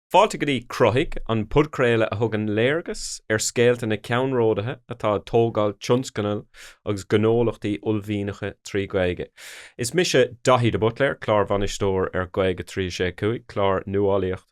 Fáilte go dtí Cruthaigh, an podchraoladh a thugann léargas ar scéalta na ceannródaithe atá ag tógáil tionscnaimh agus gnólachtaí uaillmhianacha trí Ghaeilge. Is mise Daithí de Buitléir, Clárbhainisteoir ar Gaeilge 365, clár nuálaíocht.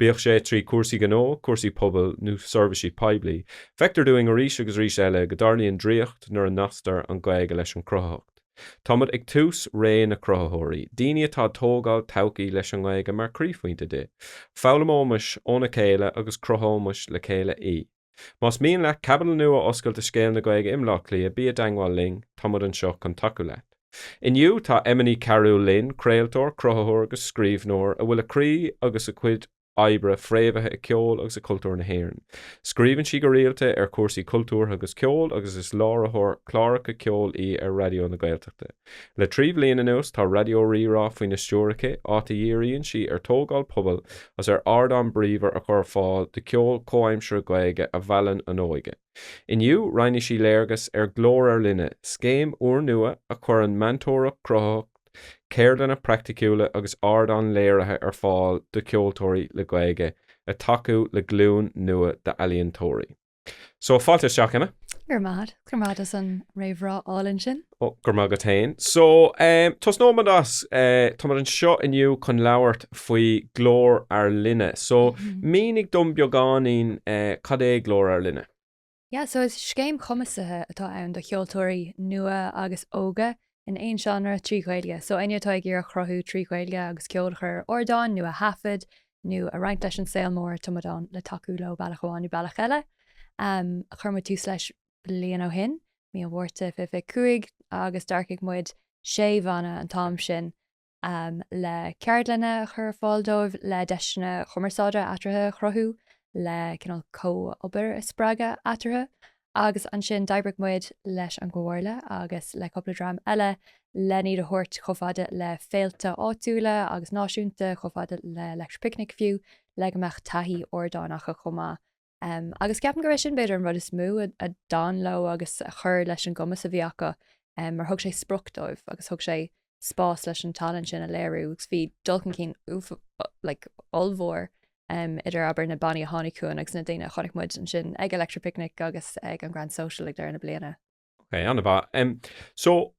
bíodh sé trí chúrsaí gnó, cúrsaí pobail nó seirbhísí poiblí. Feictear dúinn arís agus arís eile go dtarlaíonn draíocht nuair a nasctar an Ghaeilge leis an gcruthaitheacht. Táimid ag tús ré na cruthaitheoirí, daoine atá ag tógáil todhchaí leis an nGaeilge mar chroíphointe di. Foghlaimeoimis óna chéile agus cruthóimis le chéile í. Más mian leat caibidil nua a oscailt i scéal na Gaeilge i mBleá Cliath, bí i dteangmháil linn, tá muid anseo chun tacú leat. Inniu, tá Emma Ní Chearúil linn, craoltóir, cruthaitheoir agus scríbhneoir, a bhfuil a croí agus a cuid oibre fréamhaithe i ceol agus i cultúr na hÉireann. Scríobhann sí go rialta ar chúrsaí cultúrtha agus ceoil agus is láithreoir cláracha ceoil í ar Raidió na Gaeltachta. Le trí bhliain anuas tá Raidió Rí-Rá faoina stiúir aici, áit a dhíríonn sí ar tógáil pobail agus ar ardán bríomhar a chur ar fáil do cheol comhaimseartha Gaeilge a mheallann an óige. Inniu, roinnfidh sí léargas ar Glór Ár Linne, scéim úrnua a chuireann meantóireacht chruthaitheach, ceardlanna praiticiúla agus ardán léirithe ar fáil do cheoltóirí le Gaeilge le tacú le glúin nua d'ealaíontóirí. So, fáilte isteach, Emma. Go raibh maith agat, go raibh maith agat as an réamhrá álainn sin. Ó, go raibh maith agat féin. So, um, tosnóimid as, uh, táimid anseo inniu chun labhairt faoi Glór Ár Linne. So, mm-hmm. mínigh dom beagáinín uh, cad é Glór Ár Linne? Yeah, so is scéim chumasaithe atá ann do cheoltóirí nua agus óga in aon seánra, trí Ghaeilge. So éinne atá ag iarraidh cruthú trí Ghaeilge agus ceol a chur ar ardáin nó a thaifead nó a roinnt leis an saol mór tá muid ann le tacú leo bealach amháin nó bealach eile. Chuir muid tús leis bliain ó shin, mí an Mhárta, 2025 agus d'earcaigh muid sé bhanna an t-am sin le ceardlanna a chur ar fáil dóibh, le deiseanna cumarsáide eatarthu a chruthú, le cineál comhobair a spreagadh eatarthu. Agus ansin d'oibrigh muid leis an gComhairle agus le cúpla dream eile len iad a thabhairt chomh fada le féilte áitiúla agus náisiúnta, chomh fada le Electric Picnic fiú, le go mbeadh taithí ardáin acu chomh maith. Agus ceapaim gurb é sin b'fhéidir an rud is mó a d'fhan leo agus a chuir leis an gcumas a bhí acu mar thug sé sprioc dóibh agus thug sé spás leis an tallann sin a léiriú agus bhí dul chun cinn ollmhór idir abair na bannaí a tháinig chugainn agus na daoine a chonaic muid ansin ag Electric Picnic agus ag an Grand Social ag deireadh na bliana. Ok, ana mhaith. Em, so,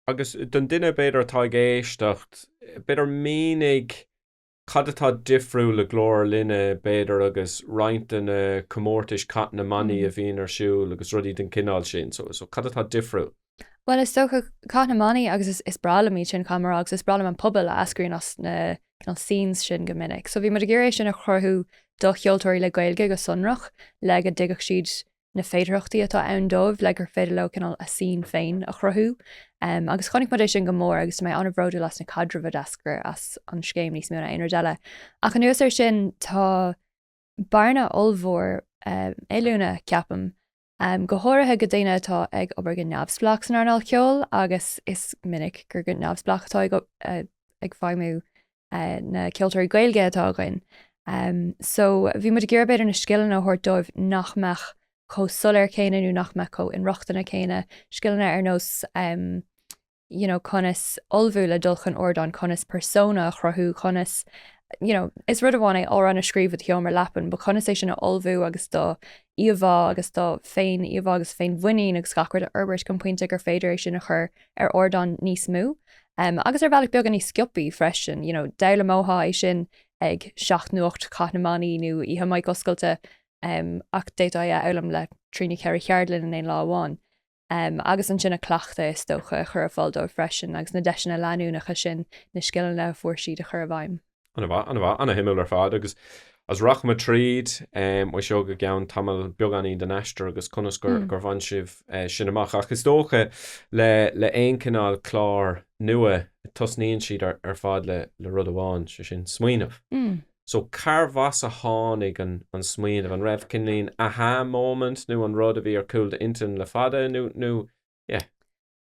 agus don duine b'fhéidir atá ag éisteacht, b'fhéidir mínigh Cad atá difriúil le Glór Ár Linne, b'fhéidir, agus roinnt de na comórtais Cath na mBannaí a bhíonn ar siúl agus rudaí den chineál sin so, so cad atá difriúil? Bhuel, is dócha, Cath na mBannaí agus is, is breá liom iad sin, caithfidh mé a rá, agus is breá liom an pobal a eascraíonn as na cineál scenes sin go minic. So bhí muid ag iarraidh é sin a chruthú do cheoltóirí le Gaeilge go sonrach le go dtuigfeadh siad na féidearthachtaí atá ann dóibh le gur féidir leo cineál a scene féin a chruthú agus chonaic muid é sin go mór agus tá mé an-bhródúil as na caidrimh a d'eascair as an scéim níos mó ná aon rud eile. Ach anuas ar sin tá bearna ollmhór um, oiliúna, ceapaim, um, go háirithe do dhaoine atá ag obair go neamhspleách san earnáil ceoil agus is minic gur go neamhspleách atá ag, uh, ag feidhmiú na ceoltóirí Gaeilge atá againn so bhí muid ag iarraidh b'fhéidir na scileanna a thabhairt dóibh nach mbeadh chomh soiléir céanna nó nach mbeadh chomh inrochtana céanna, scileanna ar nós you know conas ullmhú le dul chun ardáin, conas persona a chruthú, conas you know is rud amháin é amhrán a scríobh i do sheomra leapan, but conas é sin a ullmhú agus do íomhá agus do fhéiníomhá agus féinmhuinín agus gach rud a fhorbairt chun pointe gur féidir é sin a chur ar ardán níos mó agus ar bhealach beagán níos sciopaí freisin. You know, d'fhoghlaimeofá é sin ag seacht nó ocht cath na mbannaí nó oíche mic oscailte ach d'fhéadfá é a fhoghlaim le trí nó ceithre cheardlann in aon lá amháin. agus ansin a cleachtadh, is dócha, a chur ar fáil dóibh freisin, agus na deiseanna leanúnacha sin na scileanna a fuair siad a chur i bhfeidhm. An-mhaith, an-mhaith, an-suimiúil ar fad, agus is rachaimid tríd um, seo go gceann tamaill beagáinín den aistear agus conas gur, mm. gur bhain sibh uh, sin amach. Ach is dócha le, le aon chineál clár nua tosnaíonn sé ar, ar fad le, le rud amháin, sé sin smaoineamh. Mm. So, cárbh as a tháinig an smaoineamh? An raibh cineál an aha moment nó an rud a bhí ar chúl d'intinn le fada nó, nó. yeah.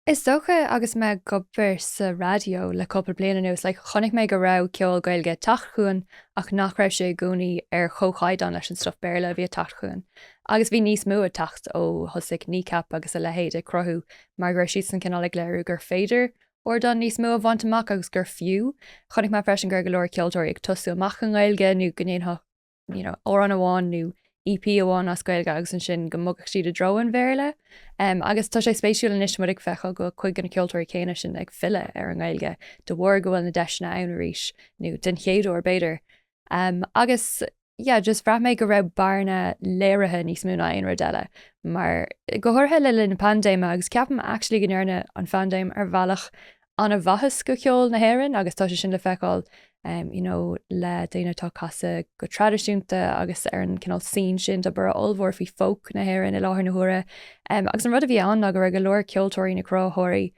Is dócha agus mé ag obair sa raidió le cúpla bliain anuas, like, chonaic mé go raibh ceol Gaeilge ag teacht chugainn ach nach raibh sé i gcónaí ar chomhchaighdeán leis an stuff Béarla a bhí ag teacht chugainn. Agus bhí níos mó ag teacht ó thosaigh Kneecap agus a leithéid ag cruthú mar go raibh siadsan cineál ag léiriú gur féidir ardán níos mó a bhaint amach agus gur fiú. Chonaic mé freisin go raibh go leor ceoltóirí ag tosú amach i nGaeilge nó go ndéanfadh you know, amhrán amháin nó EP amháin as Gaeilge agus ansin go mbogfadh siad i dtreo an Bhéarla. Um, agus tá sé spéisiúil anois muid ag feiceáil go, cuid de na ceoltóirí céanna sin ag filleadh ar an nGaeilge de bharr go bhfuil na deiseanna ann arís nó den chéad uair b'fhéidir. Agus, yeah, just bhraith mé go raibh bearna léirithe níos mó ná aon rud eile, mar, go háirithe le linn na paindéime, agus ceapaim actually go ndearna an phaindéim ar bhealach an-mhaitheas do cheol na hÉireann agus tá sé sin le feiceáil, you know, le daoine atá ag casadh go traidisiúnta agus ar an cineál scene sin tá borradh ollmhór faoi folk na hÉireann faoi láthair na huaire, agus an rud a bhí ann ná go raibh go leor ceoltóirí nó cruthaitheoirí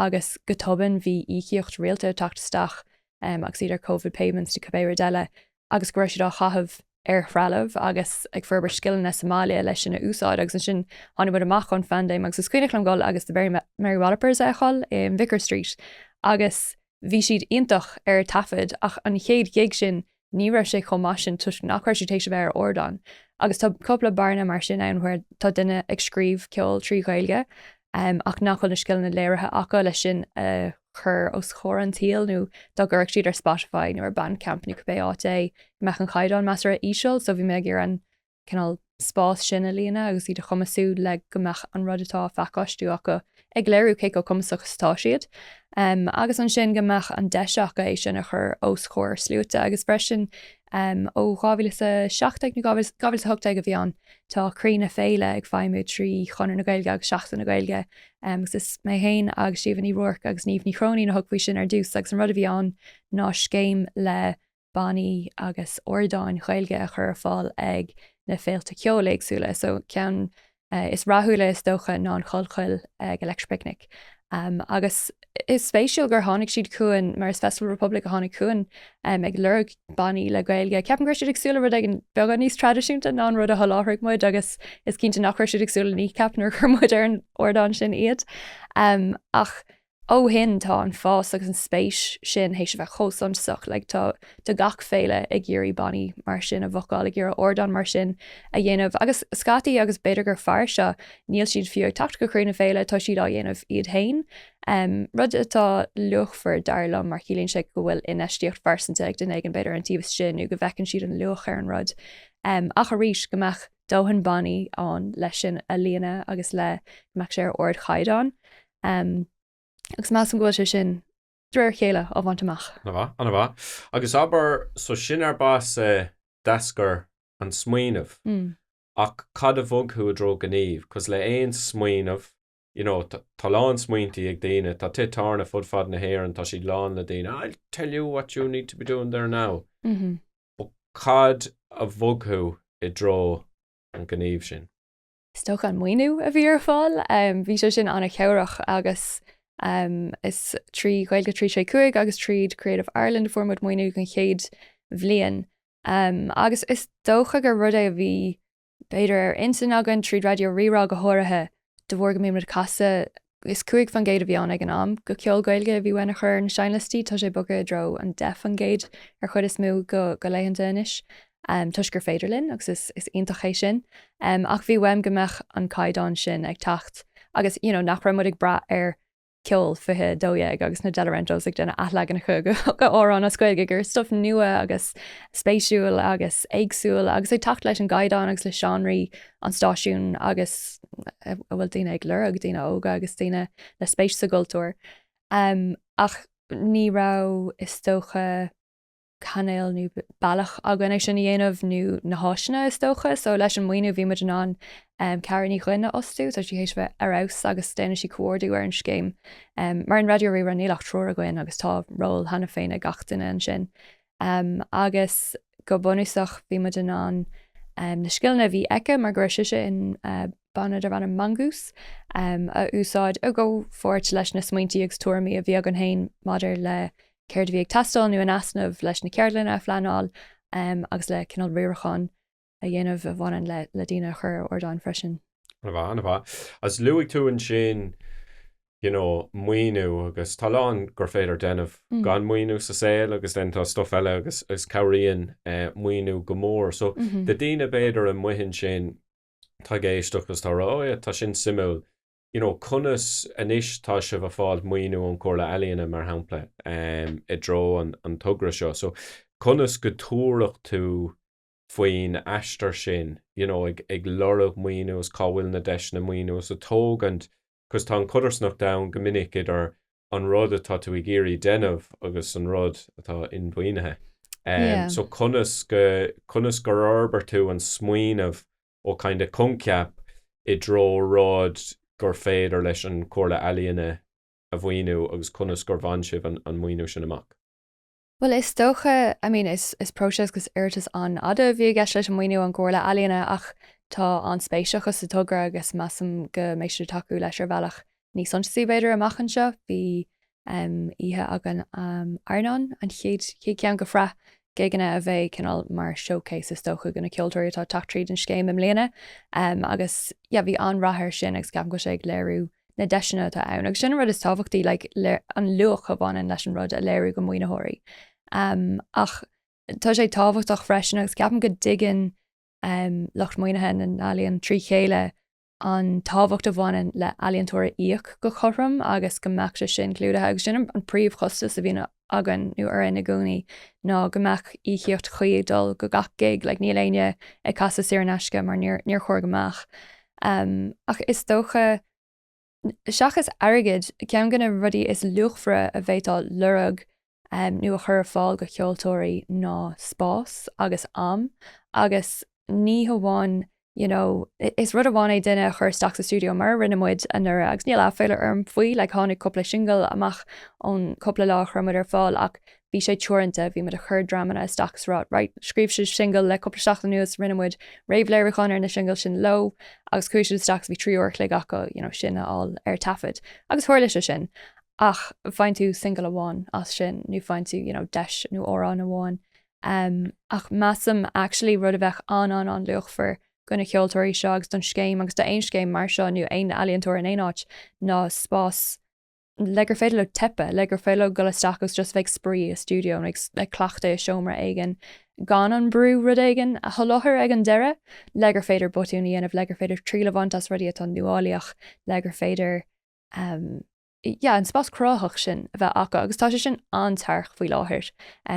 agus go tobann bhí íocaíocht rialta ag teacht isteach agus iad ar covid payments nó cibé rud eile, agus go raibh siad á chaitheamh ar threalamh agus ag forbairt scileanna sa mbaile leis sin a úsáid. Agus ansin tháinig muid amach ón phandéim agus is cuimhneach liom dul agus The Mary Wallopers a fheiceáil i Vicar Street agus bhí siad iontach ar taifead ach an chéad ghig sin, ní raibh siad chomh maith sin toisc nach raibh siad tar éis a bheith ar ardán. Agus tá cupla bearna mar sin ann where tá duine ag scríobh ceol trí Ghaeilge ach nach bhfuil na scileanna léirithe acu le sin a chur os comhair an tsaoil nó dá gcuirfeadh siad ar Spotify nó ar Bandcamp nó cibé áit é go mbeadh an caighdeán measartha íseal so bhí mé ag iarraidh an cineál spás sin a líonadh agus iad a chumasú le go mbeadh an rud atá á phacáistiú acu ag léiriú cé chomh cumasach is atá siad agus ansin go mbeadh an deis acu é sin a chur os comhair sluaite agus freisin ó 2017 nó 2018 a bhí ann tá Croí na Féile ag feidhmiú trí Chonradh na Gaeilge agus Seachtain na Gaeilge agus is mé féin agus Síomha Ní Ruairc agus Niamh Ní Chróinín a thug faoi sin ar dtús agus an rud a bhí ann ná scéim le bannaí agus ardáin Ghaeilge a chur ar fáil ag na féilte ceoil éagsúla, so ceann is rathúla is dócha ná an Chollchoill ag Electric Picnic agus is spéisiúil gur tháinig siad chugainn mar is Festival Republic a tháinig chugainn ag lorg bannaí le Gaeilge. Ceapaim go raibh siad ag súil le rud éigin beagán níos traidisiúnta ná an rud a sholáthraigh muid agus is cinnte nach raibh siad ag súil le Kneecap nuair a chuir muid ar an ardán sin iad ach Ó shin tá an fás agus an spéis sin théis a bheith chomh suntasach, like tá tá gach féile ag iarraidh bannaí mar sin a bhocáil, ag iarraidh ardán mar sin a dhéanamh agus scaití agus b'fhéidir gur fearr seo, níl siad fiú ag teacht go Croí na Féile, tá siad á dhéanamh iad féin, rud atá luachmhar dar liom mar ciallaíonn sé go bhfuil infheistíocht phearsanta ag duine éigin b'fhéidir don taobh sin nó go bhfeiceann siad an luach ar an rud ach arís go mbeadh dóthain bannaí ann leis sin a líonadh agus le go mbeadh sé ar ardchaighdeán. Um, agus measaim go bhfuil sé sin de réir chéile á bhaint amach. Ana mhaith, ana mhaith. Agus abair, so sin arb as a d'eascair an smaoineamh. Mm. Ach cad a bhog thú i dtreo gníomh? 'Cos le aon smaoineamh, you know, t- tá lán smaointí ag daoine, tá tithe tábhairne fud fad na hÉireann, tá siad lán le daoine, I'll tell you what you need to be doing there now. Mhm. But cad a bhog thú i dtreo an gníomh sin? Is dócha an maoiniú a bhí ar fáil. Bhí sé sin an-chabhrach agus is trí Ghaeilge 365 agus tríd Creative Ireland a fuair muid maoiniú don chéad bhliain. Agus is dócha gur rud é a bhí b'fhéidir ar intinn againn tríd Raidió Rí-Rá go háirithe de bharr go mbíonn muid casta is cúig faoin gcéad a bhí ann ag an am, go ceol Gaeilge a bhí uainn a chur ar na seinnliostaí, tá sé bogtha i dtreo an deich faoin gcéad an chuid is mó de laethanta anois, toisc gur féidir linn, agus is iontach é sin. Ach bhí uaim go mbeadh an caighdeán sin ag teacht agus you know nach raibh muid ag brath ar Ceol 2012 agus na Delorentos ag déanamh athleaganacha go amhráin as Gaeilge, gur stuif nua agus spéisiúil agus éagsúil agus ag teacht leis an gcaighdeán agus le seánraí an stáisiúin agus a bhfuil daoine ag lorg, daoine óga agus daoine le spéis sa gcultúr. Ach ní raibh, is dócha, cainéal nó bealach againn é sin a dhéanamh nó na háiseanna, is dócha. So leis an maoiniú bhí muid in ann Ceara Ní Dhuibhne a fhostú, tá sí théis a bheith ar fheabhas agus déanann sí comhordú ar an scéim. Mar in Raidió Rí-Rá níl ach triúr againn agus tá ról cheana féin ag gach duine ansin. agus go bunúsach bhí muid in ann na scileanna a bhí aici, mar go raibh sise in banna darb ainm Mongoose, a úsáid i gcomhpháirt leis na smaointe agus tuairimí a bhí againn féin maidir le céard a bhí ag teastáil nó in easnamh leis na ceardlanna a phleanáil agus le cineál riaracháin a dhéanamh a bhaineann le le daoine a chur ar ardáin freisin. An-mhaith, an-mhaith. As luaigh tú ansin, you know, maoiniú agus tá a lán gur féidir déanamh gan maoiniú sa saol agus then tá stuff eile agus cabhraíonn maoiniú go mór. So do daoine b'fhéidir amuigh ansin atá ag éisteacht agus tá ag rá, oh yeah, tá sin suimiúil, you know, conas anois tá sibh a' fáilt maoiniú ón Chomhairle Ealaíon mar shampla i dtreo an togra seo. So conas go dtabharfadh tú faoin aistear sin, you know ag lorg maoiniú agus cá bhfuil na deiseanna maoiniú agus ag tógaint cos tá an codarsnacht ann go minic idir an rud atá tú ag iarraidh déanamh agus an rud atá inmhaoinithe. Yeah. So conas go, conas gur fhorbair tú an smaoineamh ó kind of coincheap i dtreo rud gur féidir leis an Comhairle Ealaíon a mhaoiniú agus conas gur bhain sibh an, an maoiniú sin amach? Bhuel, is dócha, I mean, is próiseas agus iarratas an-fhada a bhí i gceist leis an maoiniú ón gComhairle Ealaíon ach tá an-spéis acu sa togra agus measaim go mbeidh siad ag tacú leis ar bhealach níos suntasaí, b'fhéidir, amach anseo. Bhí oíche againn um Airneán, an chéad cheann go shraith gigeanna a bheidh cineál mar showcase is dócha go na ceoltóirí atá ag teacht tríd an scéim i mbliana agus yeah bhí an-rath air sin agus ceapaim go bhfuil sé ag léiriú na deiseanna atá ann, agus sin an rud is tábhachtaí, like, an luach a bhaineann leis an rud a léiriú go maoinitheoirí. Um, ach tá sé tábhachtach freisin agus ceapaim go dtuigeann um, lucht maoinithe na n-ealaíon trí chéile an tábhacht a bhaineann le ealaíontóir a íoc go cothrom agus go mbeadh sé sin clúdaithe agus sin an príomhchostas a bhíonn againn nó orainn i gcónaí ná go mbeadh íocaíocht chuí ag dul do gach gig, like níl éinne ag casadh saor in aisce mar níor, níor chóir go mbeadh. Ehm, ach is dócha, seachas airgead, ceann go na rudaí is luachmhaire a bhféadfá a lorg, ehm, nó a chur ar fáil do cheoltóirí ná spás agus am agus ní hamháin you know, is rud amháin é duine a chur isteach sa stiúideo mar a rinne muid anuraidh agus níl aiféala orm faoi, like tháinig cúpla singil amach ón cúpla lá a chuir muid ar fáil ach bhí sé teoranta, bhí muid ag cur dreamanna isteach is rá, right, scríobh siad singil le cúpla seachtain anuas, rinne muid réamhléiriúchán ar na singil sin leo agus chuaigh siad isteach agus bhí trí uair a chloig acu, you know, sin a fháil ar taifead agus tharla sé sin ach bhain tú singil amháin as sin nó bhain tú, you know, deis nó amhrán amháin em, ach measaim, actually, rud a bheadh an-an-an-luachmhar do na ceoltóirí seo agus don scéim agus d'aon scéim mar seo nó aon ealaíontóir in aon áit ná spás le gur féidir leo teipeadh, le gur féidir leo dul isteach agus just bheith ag spraoi i stiúideo nó ag, ag cleachtadh i seomra éigin gan an brú rud éigin a sholáthar ag an deireadh le gur féidir botúin a dhéanamh, le gur féidir triail a bhaint as rudaí atá nuálaíoch, le gur féidir, em. yeah, an spás cruthaitheach sin a bheith acu agus tá sé sin an-tearc faoi láthair,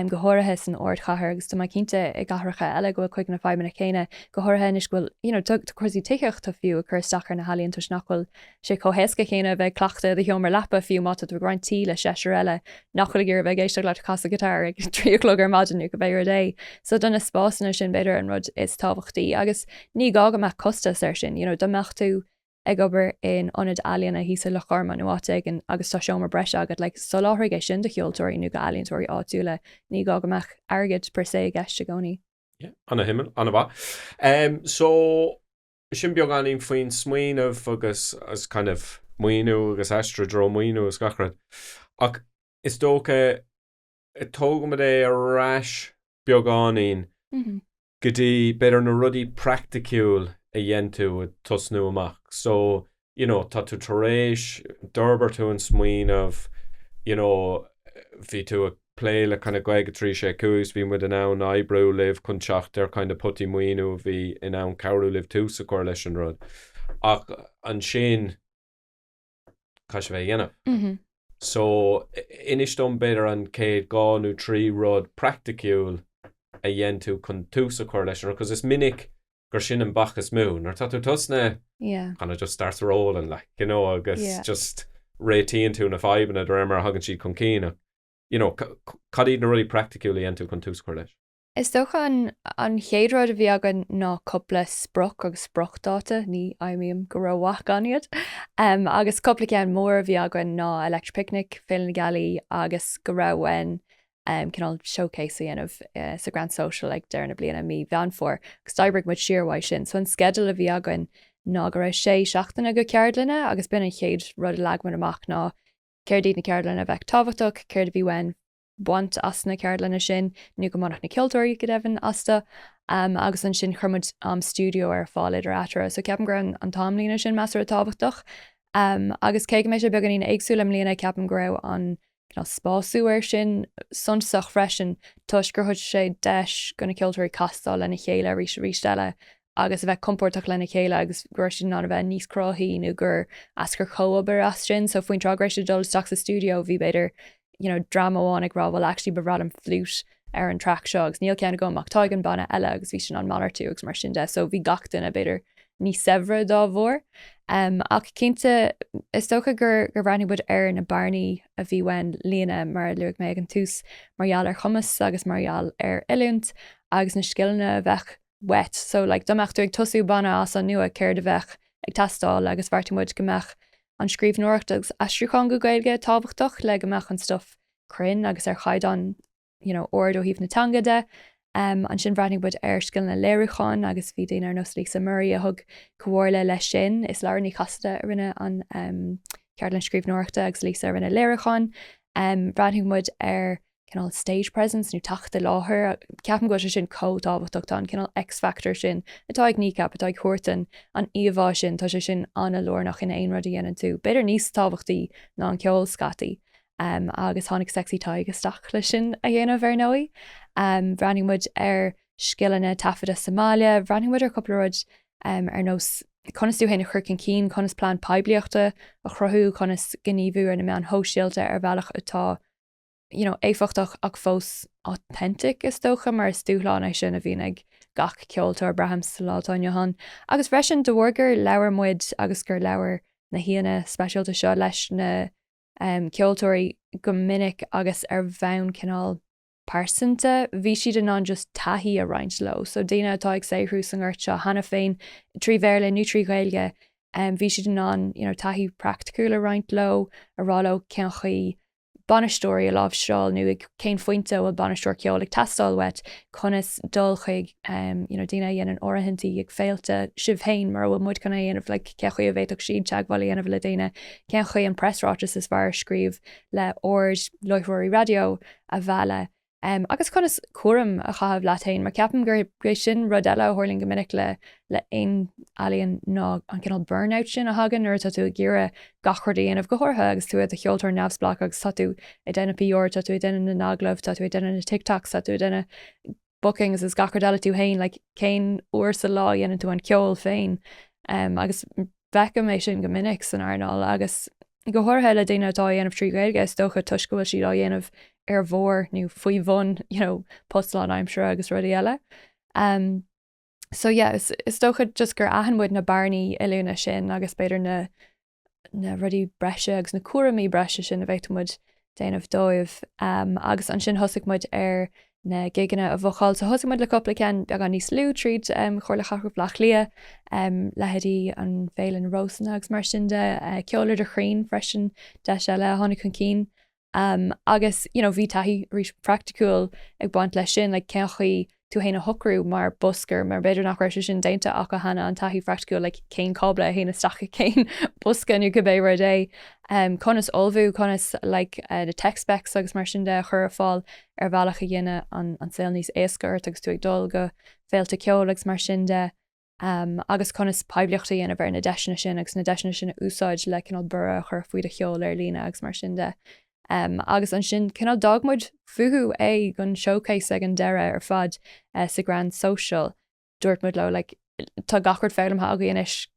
go háirithe san ardchathair agus tá mé cinnte i gcathracha eile go bhfuil cuid de na fadhbanna céanna, go háirithe anois go bhfuil, you know, cúrsaí tithíochta fiú ag cur isteach ar na healaíon toisc nach bhfuil sé chomh héasca céanna a bheith ag cleachtadh i do sheomra leapa fiú má tá tú ag roinnt tí le seisear eile nach bhfuil ag iarraidh bheith ag éisteacht leat ag casadh guitar ag trí a chlog ar maidin nó cibé rud é. So do na spásanna sin b'fhéidir an rud is tábhachtaí agus ní gá go mbeadh costas air sin, you know, dá mbeadh tú ag obair in ionad ealaíona thíos i Loch Garman nó áit éigin agus tá seomra breise agat, like, soláthraigh é sin do cheoltóirí nó d'ealaíontóirí áitiúla, ní gá go mbeadh airgead per se i gceist i gcónaí. Yeah, ana-shuimiúil, ana-mhaith. Em, so, sin beagáinín faoin smaoineamh agus as kind of maoiniú agus ais dtreo maoiniú agus gach rud. Ach is dócha, tógaimid é ar ais beagáinín go dtí, b'fhéidir, na rudaí praiticiúil a dhein tú ag tosnú amach. So, you know, tá tú tar éis, d'fhorbair tú an smaoineamh, you know, bhí tú ag plé le kind of Gaeilge 3, 6, 5 agus bhí muid in ann oibriú libh chun teacht ar kind of potaí maoiniú a bhí in ann cabhrú libh tús a chur leis an rud. Ach ansin. caithfidh sibh é a dhéanamh. So, inis dom b'fhéidir an chéad dhá nó trí rud praiticiúil a dhein tú chun tús a chur leis an rud, 'cause is minic gur sin an bac is mó, nuair atá tú tosnaithe, kind of just starts rolling, like, you know, agus just réitíonn tú na fadhbanna de réir mar a thagann siad chun cinn, ach, you know, cad iad na rudaí praiticiúil a dhein tú chun tús a chur leis? Is dócha an chéad rud a bhí againn ná cupla sprioc agus spriocdáta, ní imím go rómhaith gan iad. Agus cupla ceann mór a bhí againn ná Electric Picnic, Féile na Gealaí agus go raibh uainn cineál showcase a dhéanamh sa Grand Social ag deireadh na bliana, mí Mheán Fómhair, agus d'oibrigh muid siar uaidh sin. So an sceideal a bhí againn ná go raibh sé seachtaine de cheardlanna agus b'in an chéad rud a leag muid amach ná céard iad na ceardlanna a bheadh tábhachtach, céard a bhí uainn. baint as na ceardlanna sin, nó go mbainfeadh na ceoltóirí, go deimhin, astu. Agus ansin chuir muid am stiúideo ar fáil idir eatarthu. So ceapaim go raibh an t-amlíne sin measartha tábhachtach. Agus cé go mbeidh sé beagáinín éagsúil i mbliana, ceapaim go raibh an cineál spású ar sin suntasach freisin toisc gur thug sé deis do na ceoltóirí castáil lena chéile arís is arís eile. agus a bheith compordach lena chéile agus go raibh siad in ann a bheith níos cruthaithí nó gur eascair comhobair as sin. So faoin tráth go raibh siad ag dul isteach sa stiúideo bhí b'fhéidir you know dream amháin ag rá well actually ba bhreá liom fliút ar an traic seo agus níl ceann agam ach tá ag an mbanna eile agus bhí siad in ann malartú agus mar sin de so bhí gach duine b'fhéidir níos saibhre dá bharr. Um, ach cinnte is dócha gur, gur bhreathnaigh muid ar na bearnaí a bhí uainn a líonadh mar a luaigh mé ag an tús mar gheall ar chumas agus mar gheall ar oiliúint agus na scileanna a bheadh uait, so, like, dá mbeadh tú ag tosú banna as an nua céard a bheadh ag teastáil agus bheartaigh muid go mbeadh an scríbhneoireacht agus aistriúchán go Gaeilge tábhachtach le go mbeadh an stuff cruinn agus ar chaighdeán you know ard ó thaobh na teanga de. Um, ansin bhreathnaigh muid ar scileanna léiriúcháin agus bhí daoine ar nós Lisa Murray a thug comhairle leis sin. Is Laura Ní Chasaide a rinne an um, ceardlann scríbhneoireachta agus Lisa a rinne léiriúchán. Um, bhreathnaigh muid ar cineál stage presence nó teacht i láthair, ceapaim go bhfuil sé sin chomh tábhachtach, tá an cineál X factor sin atá ag Kneecap, atá ag thabhairt an an íomhá sin, tá sé sin an-lárnach in aon rud a dhéanann tú, b'fhéidir níos tábhachtaí ná an ceol scaití, agus tháinig Sexy Tadhg isteach leis sin a dhéanamh ar ndóigh. Bhreathnaigh muid ar scileanna taifeadta sa mbaile, bhreathnaigh muid ar chúpla rud ar nós conas tú féin a chur chun cinn, conas plean poiblíochta a chruthú, conas gníomhú ar na meáin shóisialta ar bhealach atá you know, éifeachtach ach fós authentic, is dócha, mar is dúshlán é sin a bhíonn ag gach ceoltóir, braithim, sa lá atá inniu ann. Agus freisin, de bharr gur labhair muid agus gur labhair na haíonna speisialta seo leis na um ceoltóirí go minic agus ar bhonn cineál pearsanta, bhí siad in ann just taithí a roinnt leo. So daoine atá ag saothrú sa ngort seo cheana féin, trí Bhéarla nó trí Ghaeilge, um bhí siad in ann, you know, taithí praiticiúil a roinnt leo, a rá leo cén chaoi bainisteoirí a láimhseáil nó ag cén phointe a bhfuil bainisteoir ceoil ag teastáil uait, conas dul chuig you know daoine a dhéanann áirithintí ag féilte, sibh féin mura bhfuil muid chun é a dhéanamh like cén chaoi a bhféadfadh siad teagmháil a dhéanamh le daoine, cén chaoi an preasráiteas is fearr a scríobh le aird láithreoirí raidió a mhealladh. agus conas cúram a chaitheamh leat féin, mar ceapaim gurb é sin rud eile a tharlaíonn go minic le aon ealaín ná an cineál burnout sin a thagann nuair atá tú ag iarraidh gach rud a dhéanamh, go háirithe agus tú i do cheoltóir neamhspleách agus tá tú ag déanamh PR, tá tú ag déanamh na n-agallamh, tá tú ag déanamh na TikToks, tá tú ag déanamh bookings is gach rud eile tú féin, like cén uair sa lá a dhéanann tú an ceol féin? Agus. Feicim é sin go minic san earnáil agus go háirithe le daoine atá á dhéanamh trí Ghaeilge, is dócha, toisc go bhfuil siad á dhéanamh ar bharr nó faoi bhun you know post lánaimsire agus rudaí eile. Um, so yeah, is, is dócha just gur aithin muid na bearnaí oiliúna sin agus b'fhéidir na, na rudaí breise agus na cúraimí breise sin a bhféadfadh muid déanamh dóibh. Agus ansin thosaigh muid ar na gigeanna a bhookáil. So thosaigh muid le cupla ceann beagán níos lú tríd Chomhairle Cathrach Bhleá Cliath, leithéidí an Féile na Rósanna agus mar sin de. Ceol idir chrainn freisin deis eile a tháinig chun cinn. Agus you know bhí taithí arís praiticiúil ag baint leis sin, like cén chaoi tú fhéin a shocrú mar buscar mar b'fhéidir nach raibh sé sin déanta acu cheana an taithí phraiticiúil le cén cábla a théann isteach i cén bosca nó cibé rud é. Conas ullmhú, conas na tech specs agus mar sin de a chur ar fáil ar bhealach a dhéanfadh an saol níos éasca ort agus tú ag dul go féilte ceoil agus mar sin de. agus conas poiblíocht a dhéanamh ar na deiseanna sin agus na deiseanna sin a úsáid le cineál borradh a chur faoi do cheol ar líne agus mar sin de. Agus ansin cineál d'fhág muid fúthu é dhon showcase ag an deireadh ar fad sa Grand Social. Dúirt muid leo like tá gach rud foghlamtha agaí anois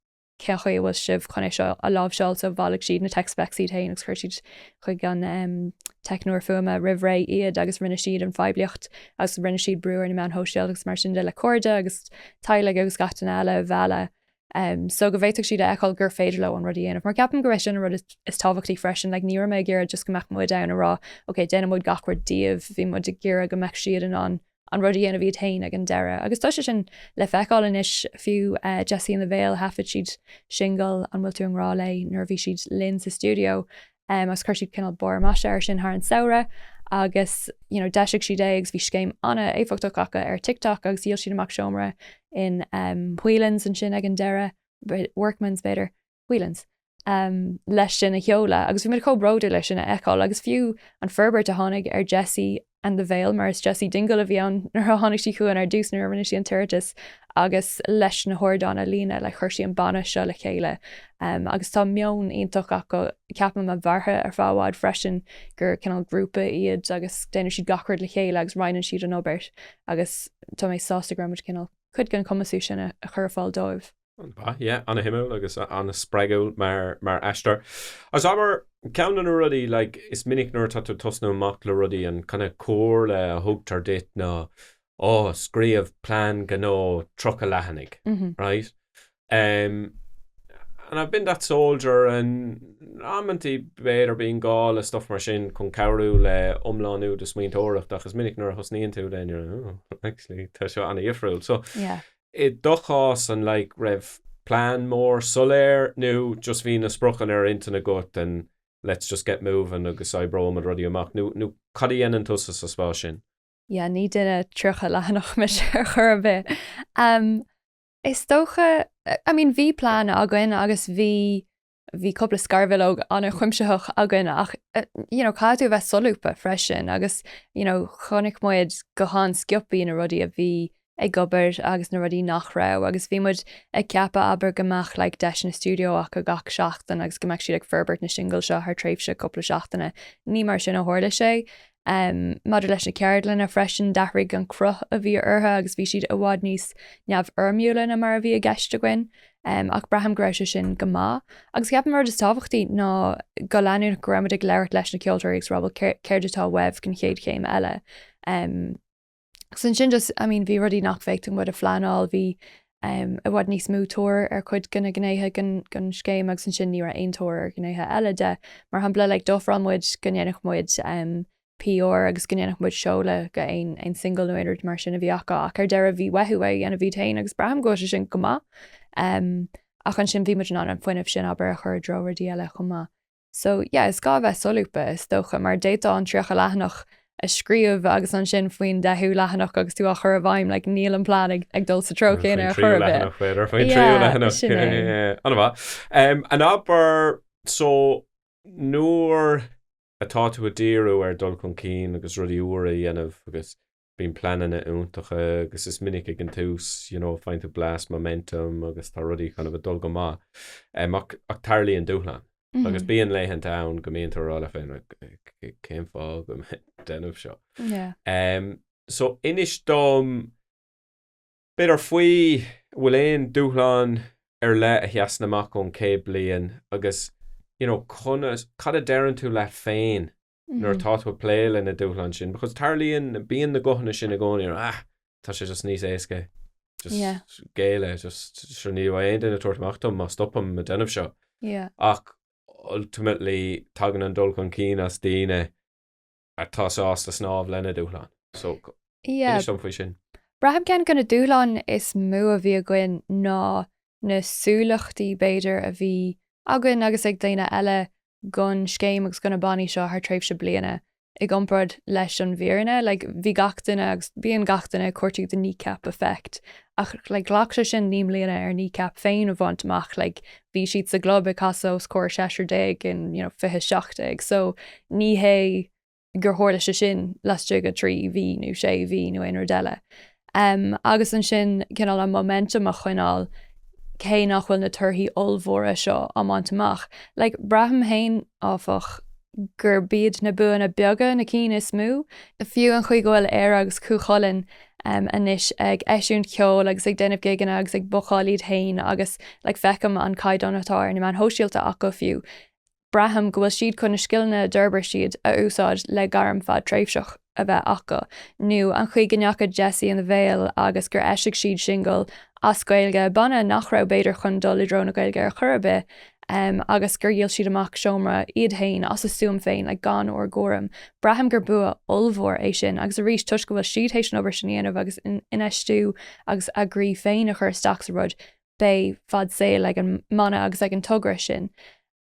cén chaoi a bhfuil sibh chun é seo a láimhseáil so bhailigh siad na tech specs iad féin agus chuir siad chuig an teicneoir fuaime roimh ré iad agus rinne siad an phoiblíocht agus rinne siad brú ar na meáin shóisialta agus mar sin de le cairde agus teaghlaigh agus gach duine eile a mhealladh so go bhféadfadh siad a fheiceáil gur féidir leo an rud a dhéanamh mar ceapaim gurb é sin an rud is tábhachtaí freisin like ní raibh mé ag iarraidh just go mbeadh muid ann a rá ok déanfaidh muid gach rud díobh bhí muid ag iarraidh go mbeadh siad in ann an rud a dhéanamh iad féin ag an deireadh. Agus tá sé sin le feiceáil anois, fiú Jessie and the Veil, thaifead siad singil, An Bhfuil Tú i nGrá Léi? nuair a bhí siad linn sa stiúideo, agus chuir siad cineál barr maise air sin thar an samhradh, agus you know d'eisigh siad é agus bhí scéim an-éifeachtach acu ar TikTok agus dhíol siad amach seomra in Whelan's ansin ag an deireadh, Workman's b'fhéidir. Whelans, leis sin a sheoladh agus bhí muid chomh bródúil leis sin a fheiceáil agus fiú an forbairt a tháinig ar Jessie and the Veil, mar 'sí Jessie Dingle a bhí ann nuair a tháinig sí chugainn ar dtús nuair a rinne sí an t-iarratas agus leis na hardáin a líonadh like chuir sí an banna seo le chéile agus tá meon iontach acu ceapaim a mhairfidh ar feadh i bhfad freisin gur cineál grúpa iad agus déanann siad gach rud le chéile agus roinneann siad an obair agus tá mé sásta go raibh muid in ann cineál cuid den chumasú sin a chur ar fáil dóibh. Ba, yeah, ana-shuimiúil agus ana-spreagúil mar, mar aistear. Agus abair, ceann de na rudaí, like, is minic nuair atá tú ag tosnú amach le rudaí, an kind-of comhairle a thugtar duit ná, ó, scríobh plean gnó tríocha leathanaigh, right? Em, and I've been that soldier and amantaí b'fhéidir bíonn gá le stuff mar sin chun cabhrú le iomlánú do smaointeoireachta ach is minic nuair a thosnaíonn tú then you're like, oh, actually, tá seo ana-dhifriúil. So, yeah. is dócha san, like, raibh plean mór soiléir nó just bhí na spriocanna ar intinn agat and let's just get moving agus oibreoimid rudaí amach nó nó cad a dhéanann tusa sa spás sin? yeah ní duine tríocha leathanach mise ar chor ar bith. em is dócha I mean bhí plean againn agus bhí, bhí cúpla scarbhileog ana-chuimsitheach againn ach you know caithfidh tú a bheith solúbtha freisin agus you know chonaic muid go han-sciobtha na rudaí a bhí ag obair agus na rudaí nach raibh agus bhí muid ag ceapadh abair go mbeadh like deiseanna stiúideo acu gach seachtain agus go mbeadh siad ag forbairt na singil seo thar tréimhse cúpla seachtaine. Ní mar sin a tharla sé Maidir leis na ceardlanna freisin, d'athraigh an cruth a bhí orthu agus bhí siad i bhfad níos neamhfhoirmiúla ná mar a bhí i gceist againn, ach braithim go raibh sé sin go maith. Agus ceapaim an rud is tábhachtaí ná go leanúnach go raibh muid ag labhairt leis na ceoltóirí agus ag rá, bhuel, céard atá uaibh don chéad chéim eile. Agus ansin just, I mean, bhí rudaí nach bhféadfadh muid a phleanáil, bhí i bhfad níos mó tóir ar chuid de na gnéithe den scéim agus ansin ní raibh aon tóir ar ghnéithe eile de. Mar shampla, like, d'ofráil muid go ndéanfadh muid PR agus go ndéanfadh muid seoladh d'aon single nó aon rud mar sin a bhí acu ach ar deireadh bhí uathu é a dhéanamh iad féin agus braithim go bhfuil sé sin go maith. Ach ansin bhí muid in ann an fuinneamh sin abair a chur i dtreo rudaí eile chomh maith. So, yeah, is gá a bheith solúbtha, is dócha, mar d'fhéadfá an tríocha leathanach a scríobh agus ansin faoin deichiú leathanach agus tú á chur i bhfeidhm, like, níl an plean ag, ag dul sa treo chéanna ar chor ar bith. Yeah, sin é. Ana mhaith. Em, abair, so, nuair atá tú ag díriú ar dhul chun cinn agus rudaí úra a dhéanamh agus Bíonn pleananna iontacha agus is minic ag an tús, you know, faigheann tú blast momentum agus tá rudaí kind of ag dul go maith, ach tarlaíonn dúshlán agus bíonn laethanta ann go mbíonn tú ag rá leat féin, cén fáth go bhfuil mé ag déanamh seo? So inis dom b'fhéidir faoi, an bhfuil aon dúshlán ar leith a sheasann amach ón chéad bliain agus, you know, conas, cad a deireann tú leat féin nuair atá tú ag plé leis na dúshláin sin, because tarlaíonn, bíonn na guthanna sin i gcónaí, ah, tá sé just níos éasca, just yeah. géilleadh, just, sure, ní bheidh aon duine ag tabhairt amach fúm, má stopaim ag déanamh seo. Yeah. Ach, ultimately, tagann an dul chun cinn as daoine atá sásta snámh lena dúshlán. So, yeah. inis dom faoi sin. Braithim ceann go na dúshláin is mó a bhí againn ná na súileachtaí, b'fhéidir, a bhí againn agus ag daoine eile gon scéim agus gona bannaí seo thar tréimhse bliana i gcomparáid leis an bhfírinne, like bhí gach duine agus bíonn gach duine ag cuartú the Kneecap Effect ach like ghlac sé sin féin naoi mbliana ar Kneecap a bhaint amach, like bhí siad sa gclub ag casadh os comhair seisear déag in you know fiche seacht déag so ní hé gur tharla sé sin laistigh de thrí mhí nó sé mhí nó aon rud eile. Agus ansin, cineál an momentum a choinneáil cé nach bhfuil na torthaí ollmhóra seo á mbaint amach. Like, braithim féin, áfach, gurb iad na buanna beaga na cinn is mó, fiú an chaoi go bhfuil Éire agus Cú Chulainn anois ag eisiúint ceoil agus ag déanamh gigeanna agus ag bookáil iad féin agus, like, feicim an caighdeán atá ar na meáin shóisialta acu fiú. braithim go bhfuil siad chun na scileanna a d'fhorbair siad a úsáid le gairm fadtréimhseach a bheith acu, nó an chaoi go ndeachaigh Jessie and the Veil agus gur eisigh siad singil as Gaeilge, banna nach raibh b'fhéidir chun dul i dtreo na Gaeilge ar chor ar bith, agus gur dhíol siad amach seomra iad féin as a stuaim féin, like, gan ár gcúram. Braithim gur bua ollmhór é sin, agus arís, toisc go bhfuil siad théis an obair sin a dhéanamh agus infheistiú agus a gcroí féin a chur isteach sa rud, beidh fad saoil ag an mbanna agus ag an togra sin.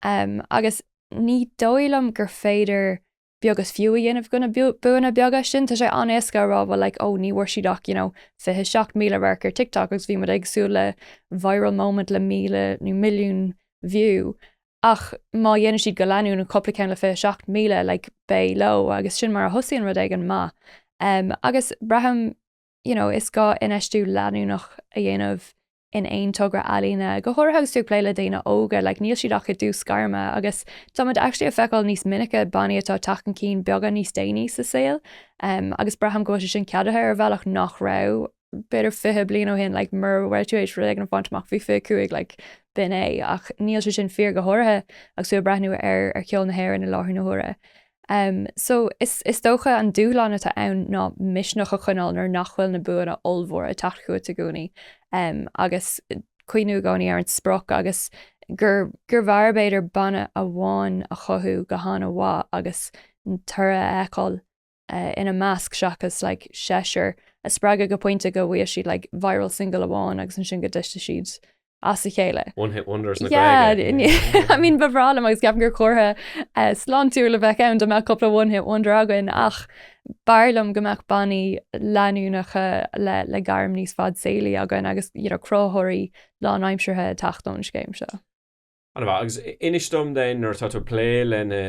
Agus ní dóigh liom gur féidir beag is fiú a dhéanamh gona buanna beaga sin. Tá sé an-éasca a rá, bhuel, like, oh, ní bhfuair siad ach, you know, 27,000 radharc ar TikTok agus bhí muid ag súil le viral moment le 1,000 nó milliún view. Ach má dhéanann siad go leanúnach an cúpla ceann le 27,000, like, beidh leo agus sin mar a thosaíonn rud éigin maith. Agus braithim you know, is gá infheistiú leanúnach a dhéanamh in aon togra ealaíne, go háirithe agus tú ag plé le daoine óga, like, níl siad ach i dtús gairme agus táimid actually ag feiceáil níos minice bannaí atá ag teacht chun cinn beagán níos déanaí sa saol um, agus braithim go bhfuil sé sin ceadaithe ar bhealach nach raibh b'fhéidir 20 bliain ó shin like, mura raibh tú théis rud éigin a bhaint amach faoi 25 like, b'in é ach níl sé sin fíor go háirithe agus tú ag breathnú ar, ar cheol na hÉireann i láthair na huaire. So, is dócha, an dúshlán atá ann ná misneach a choinneáil nuair nach bhfuil na buanna ollmhóra ag teacht chugat i gcónaí agus cuimhniú i gcónaí ar an sprioc agus gur bhfearr, b'fhéidir, banna amháin a chothú go han-mhaith agus toradh a fheiceáil ina measc seachas like seisear a spreagadh go pointe go bhfaighidh siad like viral single amháin agus ansin go dtitfidh siad. as a chéile. One hit wonders na Gaeilge. Yeah, I mean ba bhreá liom agus ceapaim gur comhartha eh, sláintiúil a bheadh ann dá mbeadh cúpla one hit wonder againn ach b'fhearr liom go mbeadh bannaí leanúnacha le, le gairm níos fadsaolaí againn agus you know, cruthaitheoirí lánaimseartha ag teacht ón scéim seo. Agus inis dom then nuair atá tú ag plé leis na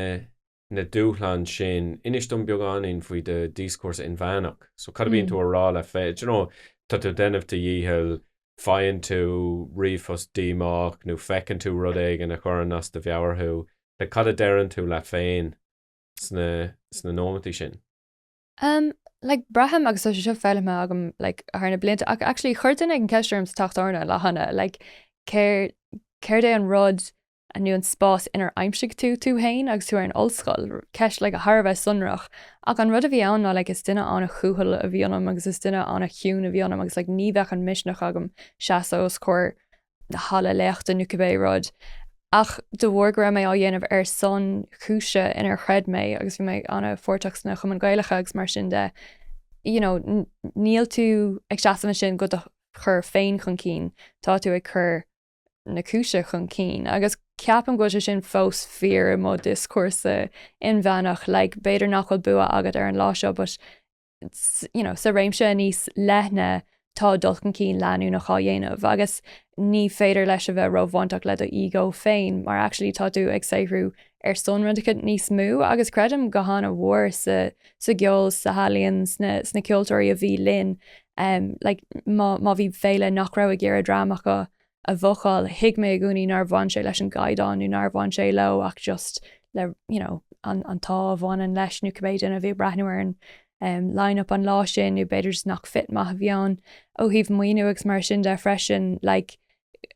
na dúshláin sin, inis dom beagáinín faoi do dhioscúrsa inmheánach. So cad a bhíonn tú a rá leat féin, you know, tá tú ag déanamh do dhícheall, faigheann tú ríomhphost díomách nó feiceann tú rud éigin a chuireann as do mheabhair thú, like cad a deireann tú leat féin sna, sna nóimeataí sin? Em, like braithim agus tá sé seo foghlamtha agam like thar na blianta ach actually chuir duine an ceist orm sa teach tábhairne an lá cheana like céard, céard é an rud nó an spás inar aimsigh tú tú féin agus tú ar an ollscoil, ceist like thar a bheith sonrach, ach an rud a bhí ann ná like is duine an-chúthail a bhí ionam agus is duine an-chiúin a bhí ionam agus like ní bheadh an misneach agam seasamh os comhair an halla léachta nó cibé rud ach de bharr go raibh mé á dhéanamh ar son cúise inar chreid mé agus bhí mé an-pháirteach sna Cumainn Ghaelacha agus mar sin de you know níl tú ag seasamh ansin do do chur féin chun cinn, tá tú ag cur. na cúise chun cinn, agus ceapaim go bhfuil sé sin fós fíor i mo dhioscúrsa inmheánach, like, b'fhéidir nach bhfuil bua agat ar an lá seo but you know sa réimse níos leithne tá dul chun cinn leanúnach á dhéanamh agus ní féidir leis a bheith róbhaintach le do ego féin mar actually tá tú ag saothrú ar son rud éicint níos mó agus creidim go han-mhór sa sa gceol san ealaíon sna sna ceoltóirí a bhí linn like má má bhí féile nach raibh ag iarraidh dream acu a bhookáil thuig mé i gcónaí nár bhain sé leis an gcaighdeán nó nár bhain sé leo ach just le you know an an t-ádh a bhaineann leis nó cibé duine a bhí ag breathnú ar an um line up an lá sin nó b'fhéidir just nach fit maith a bhí ann ó thaobh maoiniú agus mar sin de freisin like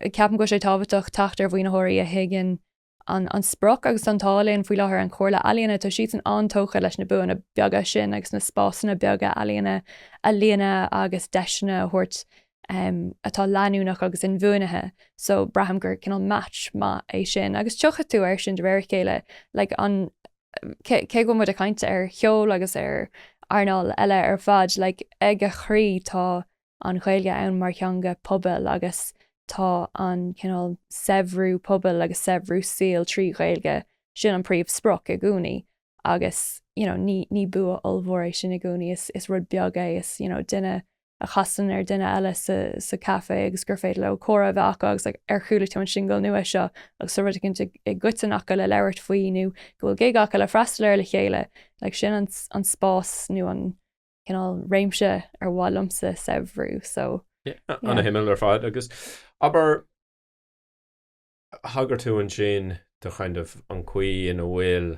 ceapaim go bhfuil sé tábhachtach teacht ar mhaoinitheoirí a thuigeann an sprioc agus an t-ádh linn faoi láthair an Chomhairle Ealaíon, tá siadsan an-tógtha leis na buanna beaga sin agus na spásanna beaga ealaíne a líonadh agus deiseanna a thabhairt um atá leanúnach agus inbhuanaithe. So braithim gur cineál match maith é sin agus tiocfaidh tú air sin de réir a chéile like an cé go bhfuil muid ag caint ar cheol agus ar earnáil eile ar fad like ag a chroí tá an Ghaeilge ann mar theanga pobail agus tá an cineál saibhriú pobail agus saibhriú saoil trí Ghaeilge sin an príomhsprioc i gcónaí agus you know ní ní bua ollmhór é sin i gcónaí is is rud beag é is you know duine a chasann ar duine eile sa sa caife agus gur féidir leo comhrá a bheith acu agus like ar chuala tú an singil nua seo agus tá rud éicint i i gcoiteann acu le labhairt faoi nó go bhfuil gig acu le freastal air le chéile like sin an an spás nó an cineál réimse ar mhaith liomsa saibhriú so yeah. An-shuimiúil ar fad agus abair thagair tú ansin do kind of an gcaoi ina bhfuil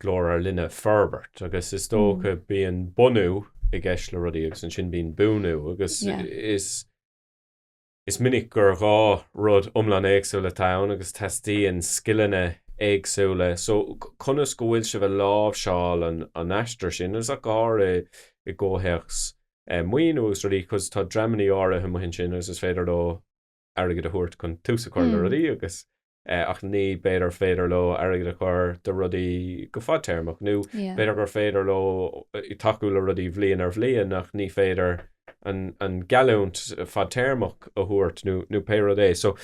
GlórLíne ag forbairt agus is dócha bíonn bunú i gceist le rudaí agus ansin bíonn buanú agus yeah. is Is minic gur dhá rud iomlán éagsúil atá ann agus teastaíonn scileanna éagsúla. So, conas go bhfuil sibh ag láimhseáil an aistear sin? Is ach go háirithe i gcomhthéacs maoiniú agus rudaí because tá dreamanna áirithe amuigh ansin agus is féidir leo airgead a thabhairt chun tús a chur le rudaí agus ach ní b'fhéidir féidir leo airgead a chur i dtreo rudaí go fadtéarmach, nó b'fhéidir gur féidir leo tacú le rudaí bhliain ar bhliain ach ní féidir an geallúint fadtéarmach a thabhairt nó pé rud é. So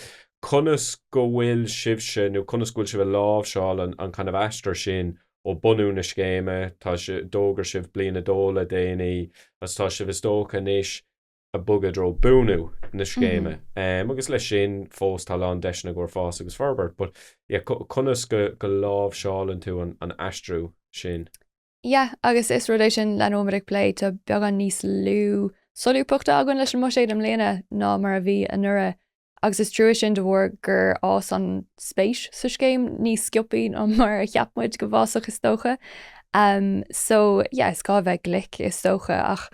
conas go bhfuil sibhse, nó conas go bhfuil sibh ag láimhseáil an kind of aistear sin ó bunú na scéime, tá sibh, d'fhógair sibh bliain a dó le déanaí, agus tá sibh is dócha anois, ag bogadh i dtreo buanú na scéime agus leis sin fós tá a lán deiseanna i gcomhair fás agus forbairt but yeah conas go go láimhseálann tú an an aistriú sin? Yeah agus is rud é sin lena mbímid ag plé tá beagán níos lú solúbthachta againn leis an mbuiséad i mbliana ná mar a bhí anuraidh agus is trua sin de bharr gur fhás an spéis sa scéim níos sciobtha ná mar a cheap muid go bhfásfadh is dócha. So, yeah, is gá a bheith glic, is dócha, ach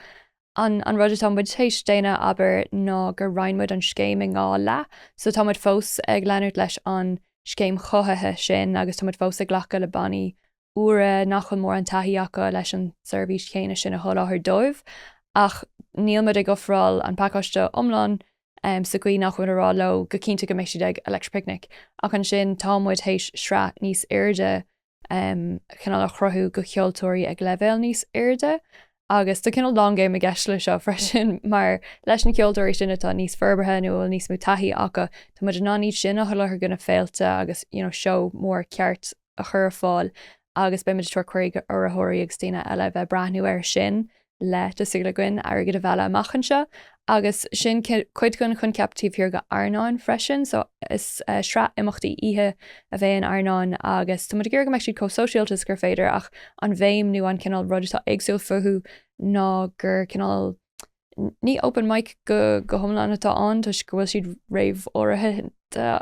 an an rud atá muid théis déanamh abair ná gur roinn muid an scéim in dhá leath, so tá muid fós ag leanúint leis an scéim chothaithe sin agus tá muid fós ag glacadh le bannaí úra nach bhfuil mórán taithí acu leis an tseirbhís chéanna sin a sholáthar dóibh, ach níl muid ag ofráil an phacáiste iomlán sa gcaoi nach bhfuil muid ag rá leo go cinnte go mbeidh siad ag Electric Picnic, ach ansin tá muid théis sraith níos airde cineál a chruthú go ceoltóirí ag leibhéal níos airde agus tá cineál long game i gceist le seo freisin mar leis na ceoltóirí sin atá níos forbartha nó a bhfuil níos mó taithí acu, tá muid in ann iad sin a sholáthar go na féilte agus you know seó mór ceart. a chur ar fáil agus beimid ag tabhairt cuiridh go urraitheoirí agus daoine eile a bheith ag breathnú air sin le tá súil againn airgead a mhealladh amach anseo agus sin cuid den choincheap taobh thiar go Airneán freisin so is sraith imeachtaí oíche a bheidh in Airneán agus tá muid ag iarraidh go mbeidh siad chomh sóisialta is gur féidir ach an bhéim nó an cineál rud atá éagsúil fúthu ná gur cineál Ní open mic go hiomlán atá ann toisc go bhfuil siad réamháirithe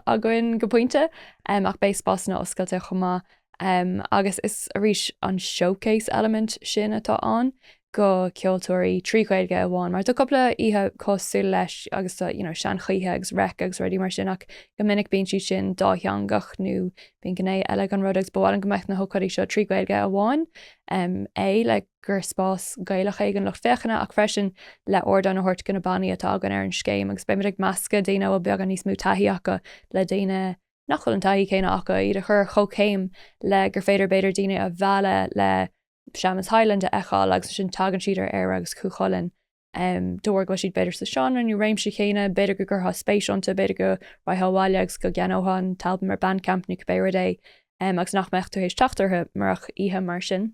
againn go pointe, ach beidh spásanna oscailte chomh maith agus is arís an showcase element sin atá ann go ceoltóirí trí Ghaeilge amháin mar tá cúpla oíche cosúil leis agus tá you know Seanchoíche agus Reic agus rudaí mar sin ach go minic bíonn siad sin dátheangach nó bíonn gné eile ag an rud agus ba mhaith linn go mbeadh na hócáidí seo trí Ghaeilge amháin é le gur spás Gaelach é don lucht féachana ach freisin le ardán a thabhairt do na bannaí atá againn ar an scéim agus beidh muid ag meascadh daoine a bhfuil beagán níos mó taithí acu le daoine nach bhfuil an taithí céanna acu, iad a chur ar chomhchéim le gur féidir b'fhéidir daoine a mhealladh le Seamus Hyland a fheiceáil agus ansin tagann siad ar Éire agus Cú Chulainn de bharr go bhfuil siad b'fhéidir sa seánra nó réimse chéanna, b'fhéidir go gcuirfeadh spéis iontu, b'fhéidir go raghadh abhaile agus go gceannódh an t-albam ar Bandcamp nó cibé ard é agus nach mbeadh tú théis teacht orthu murach oíche mar sin.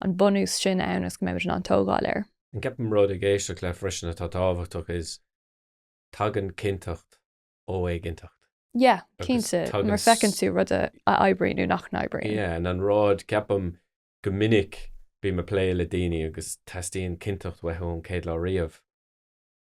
an bunús sin ann is go mbeimid in ann tógáil air. An ceapaim rud ag éisteacht leat freisin atá tábhachtach is tagann cinnteacht ó éiginnteacht. Yeah, cinnte, mar feiceann tú rud a oibríonn nó nach n-oibríonn. Yeah, and an rud, ceapaim go minic bím ag plé le daoine agus teastaíonn cinnteacht uathu ón chéad lá riamh.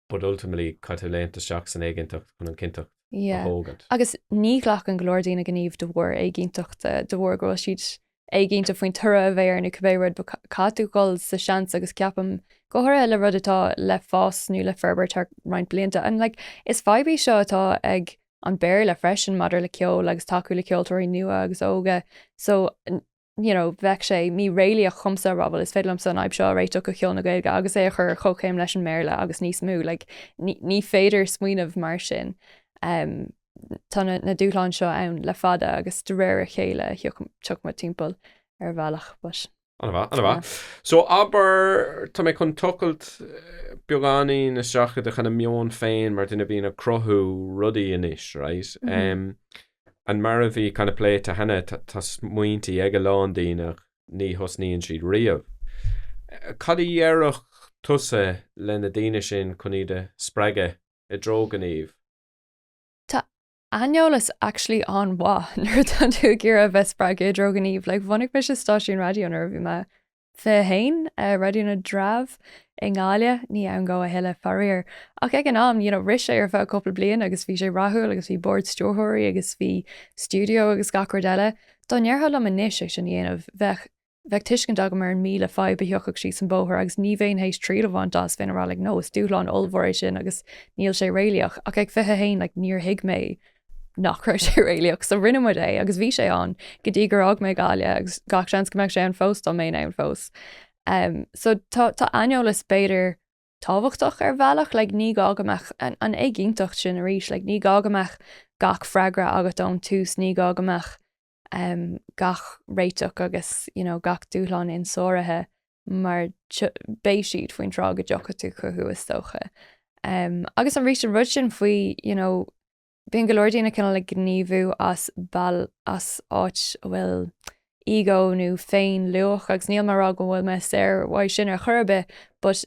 but ultimately caithfidh tú léimt isteach san éiginnteacht chun an cinnteacht a thógaint. Yeah. Agus ní ghlacann go leor daoine gníomh de bharr éiginnteachta, de bharr go bhfuil siad éiginnte faoin toradh a bheidh air nó cibé rud but caithfidh tú dhul sa seans agus ceapaim go háirithe le rud atá le fás nó le forbairt thar roinnt blianta. And like is fadhb í seo atá ag an Béarla freisin maidir le ceol agus tacú le ceoltóirí nua agus óga so you know, bheadh sé míréalaíoch dhomsa a rá, bhuel, is féidir liomsa an fhadhb seo a réiteach do cheol na Gaeilge agus é a chur ar chomhchéim leis an mBéarla agus níos mó. Like, ní, ní féidir smaoineamh mar sin. Um, tá na, na dúshláin seo ann le fada agus de réir a chéile a thiocfaidh, tiocfaidh muid timpeall air ar bhealach, but. Ana mhaith, ana mhaith. So, abair, tá mé chun tochailt beagáinín isteach i do kinda meon féin mar duine a bhíonn ag cruthú rudaí anois, right? Um, An mar a bhí kinda pléite cheana, tá smaointí ag a lán daoine, ní thosnaíonn siad riamh. Cad a dhéarfadh tusa le na daoine sin chun iad a spreagadh i dtreo gnímh? Tá aineolas actually an-mhaith nuair atá tú ag iarraidh a bheith spreagtha i dtreo gnímh. Like bhunaigh mise stáisiún raidió nuair a bhí mé. 21, Raidió na dTreabh i nGaillimh, ní ann dhó a thuilleadh, faraor. Ach ag an am, you know, rith sé ar feadh cúpla bliain agus bhí sé rathúil agus bhí bord stiúrthóirí agus bhí stiúideo agus gach rud eile. Dá ndéarfá liom anois é sin a dhéanamh, bheadh, bheadh tuiscint agam ar an míle fadhb a thiocfadh síos an bóthar agus ní bhéinn théis triail a bhaint as, bhéinn a rá, like, no, is dúshlán ollmhór é sin agus níl sé réalaíoch. Ach ag 21, like, níor thuig mé. nach raibh sé réalaíoch, so rinne muid é agus bhí sé ann go dtí gur fhág mé Gaillimh agus gach seans go mbeadh sé ann fós dá mbeinn ann fós. Em, so tá, tá aineolas, b'fhéidir, tábhachtach ar bhealach, like, ní gá go mbeadh an, an éiginnteacht sin arís, like, ní gá go mbeadh gach freagra agat ón tús, ní gá go mbeadh, gach réiteach agus, you know, gach dúshlán insáraithe mar beidh siad faoin tráth go dtiocfaidh tú chucu, is dócha. Agus arís an rud sin faoi, you know, bíonn go leor daoine cineál ag gníomhú as bail, as áit a bhfuil ego nó féinluach agus níl mé ag rá go bhfuil mé saor uaidh sin ar chor ar bith but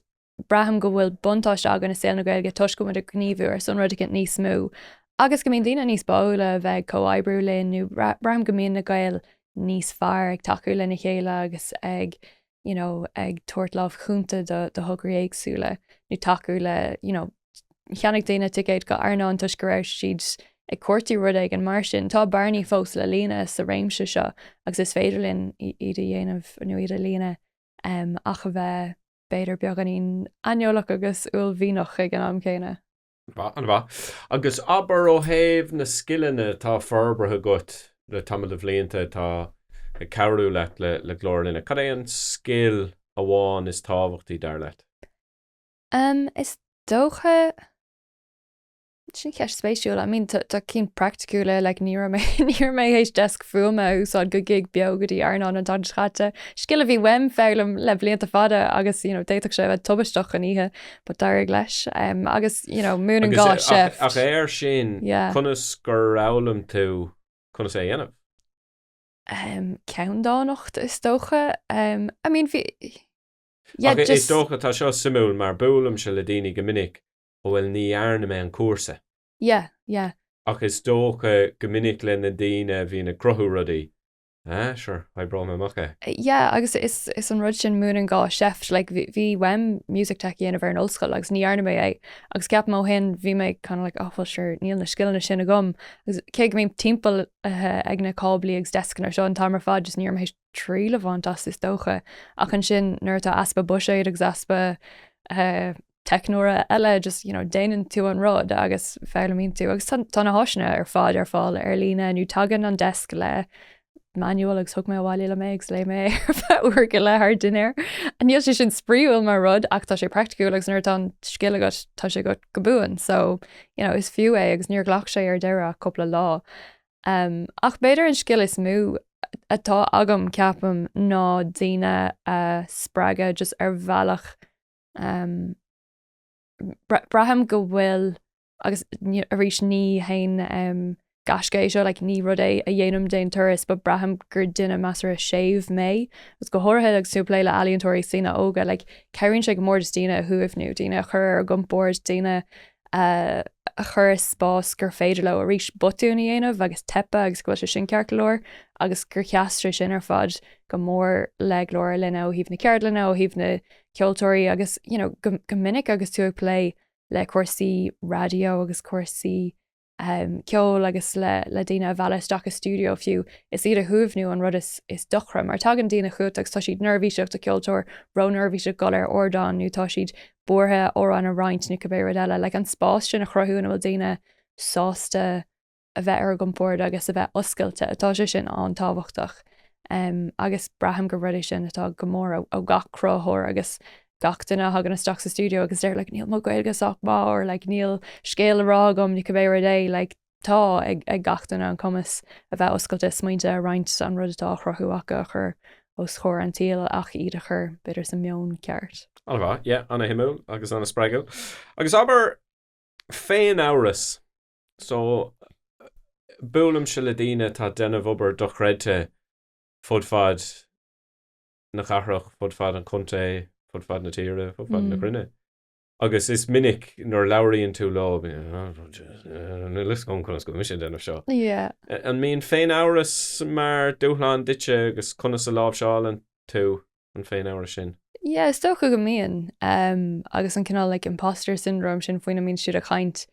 Braithim go bhfuil buntáiste againn i saol na Gaeilge toisc go bhfuil muid ag gníomhú ar son rud eicint níos mó agus go mbíonn daoine níos báúla a bheith ag comhoibriú linn nó braithim go mbíonn na Gaeil níos fearr ag tacú lena chéile agus ag you know, ag tabhairt lámh chúnta do, do thograí éagsúla nó tacú le you know, cheannaigh daoine ticéid go Airneán toisc go raibh siad ag cuartú rud éigin mar sin. Tá bearnaí fós le líonadh sa réimse seo agus is féidir linn iad a dhéanamh nó iad a líonadh. ach a bheith, b'fhéidir, beagáinín aineolach agus uaillmhianach ag an am céanna. An-mhaith. An-mhaith. Agus abair ó thaobh na scileanna atá forbartha agat le tamall de bhlianta atá ag cabhrú leat le Glór Linne, cad é an scil amháin is tábhachtaí, dar leat? Is dócha. Sin ceist spéisiúil. I mean, tá cinn praiticiúla, like, ní raibh mé, ní raibh mé th'éis deasc fuaime a úsáid do gig beo go dtí Airneán an tSathairn seo caite. Scil a bhí uaim a fhoghlaim, le blianta fada agus, you know, d'fhéadfadh sé a bheith tubaisteach an oíche, but d'éirigh leis. Um, agus, you know, múineann gá seift. Agus, eh, ach, ach air sin, Yeah. conas gur fhoghlaim tú conas é a dhéanamh? Um, ceanndánacht, is dócha. Um, I mean, bhí, yeah, Ach i- is just, dócha, tá seo suimiúil mar buailimse le daoine go minic ó bhuel ní dhearna mé an cúrsa. yeah yeah. Ach is dócha go minic leis na daoine a bhíonn ag cruthú rudaí, ah sure oibreoidh mé amach é. yeah agus is an rud sin múineann gá seift like bhí uaim music tech a dhéanamh ar an ollscoil agus ní dhearna mé é agus ceapaim ó shin bhí mé kind of like well sure níl na scileanna sin agam agus cé go mbím timpeallaithe ag na cáblaí agus deascanna seo an t-am ar fad just ní raibh mé triail a bhaint as, is dócha. Ach ansin, nuair atá easpa buiséid agus easpa teicneora eile, just, you know, déanann tú an rud agus foghlaimíonn tú. Agus tá na háiseanna ar fad ar fáil ar líne, nó tagann an desk le manual agus thug mé abhaile liom é agus léigh mé é ar feadh uair go leith thar dinnéar. Níl sé sin spraíúil mar rud ach tá sé praiticiúil agus nuair atá an scil agat tá sé agat go buan. So, you know, is fiú é agus níor ghlac sé ar deireadh ach cúpla lá. Ach b'fhéidir an scil is mó atá agam, ceapaim, ná daoine a spreagadh just ar bhealach um braithim go bhfuil agus arís ní haon gaisce é seo, like, ní rud é a dhéanaim d'aon turas, but braithim gur duine measartha séimh mé agus go háirithe agus tú ag plé le ealaíontóirí, daoine óga, like, cabhraíonn sé go mór just daoine a shuaimhniú, daoine a chur ar a gcompord, daoine a chur i spás gur féidir leo arís botúin a dhéanamh agus teipeadh agus go bhfuil sé sin ceart go leor agus gur theastaigh sé sin ar fad go mór le glór ár linne ó thaobh na ceardlainne, ó thaobh na ceoltóirí agus you know go minic agus tú ag plé le cúrsaí raidió agus cúrsaí. ceoil agus le daoine a mhealladh isteach i stiúideo fiú, is iad a shuaimhniú an rud is deacra, mar tagann daoine chugat agus tá siad neirbhíseach, tá ceoltóir róneirbhíseach dul ar ardán nó tá siad buartha amhrán a roinnt nó cibé rud eile. Like, an spás sin a chruthú ina bhfuil daoine sásta a bheith ar a gcompord agus a bheith oscailte, tá sé sin an-tábhachtach agus braithim gur rud é sin a theastaíonn go mór ó gach cruthaitheoir agus gach duine a thagann isteach sa stiúideo agus a deir like níl mo Ghaeilge sách maith or like níl scéal le rá agam nó cibé rud é, like tá ag ag gach duine an cumas a bheith oscailte is smaointe a roinnt an rud atá á chruthú acu a chur os comhair an tsaoil ach iad a chur b'fhéidir sa mheon ceart. Ana mhaith, yeah, ana shuimiúil agus ana spreagúil. Agus abair féinamhras, so buailimse le daoine atá ag déanamh obair dochreidte fud fad na cathrach, fud fad an chontae, fud fad na tíre, fud fad na cruinne. Agus is minic nuair a labhraíonn tú leo, bíonn siad like conas go bhfuil mise ag déanamh seo. An mbíonn féinamhras mar dúshlán duitse agus conas a láimhseálann tú an féinamhras sin? Yeah, is dócha go mbíonn. Agus an cineál like imposter syndrome sin faoina mbíonn siad ag caint.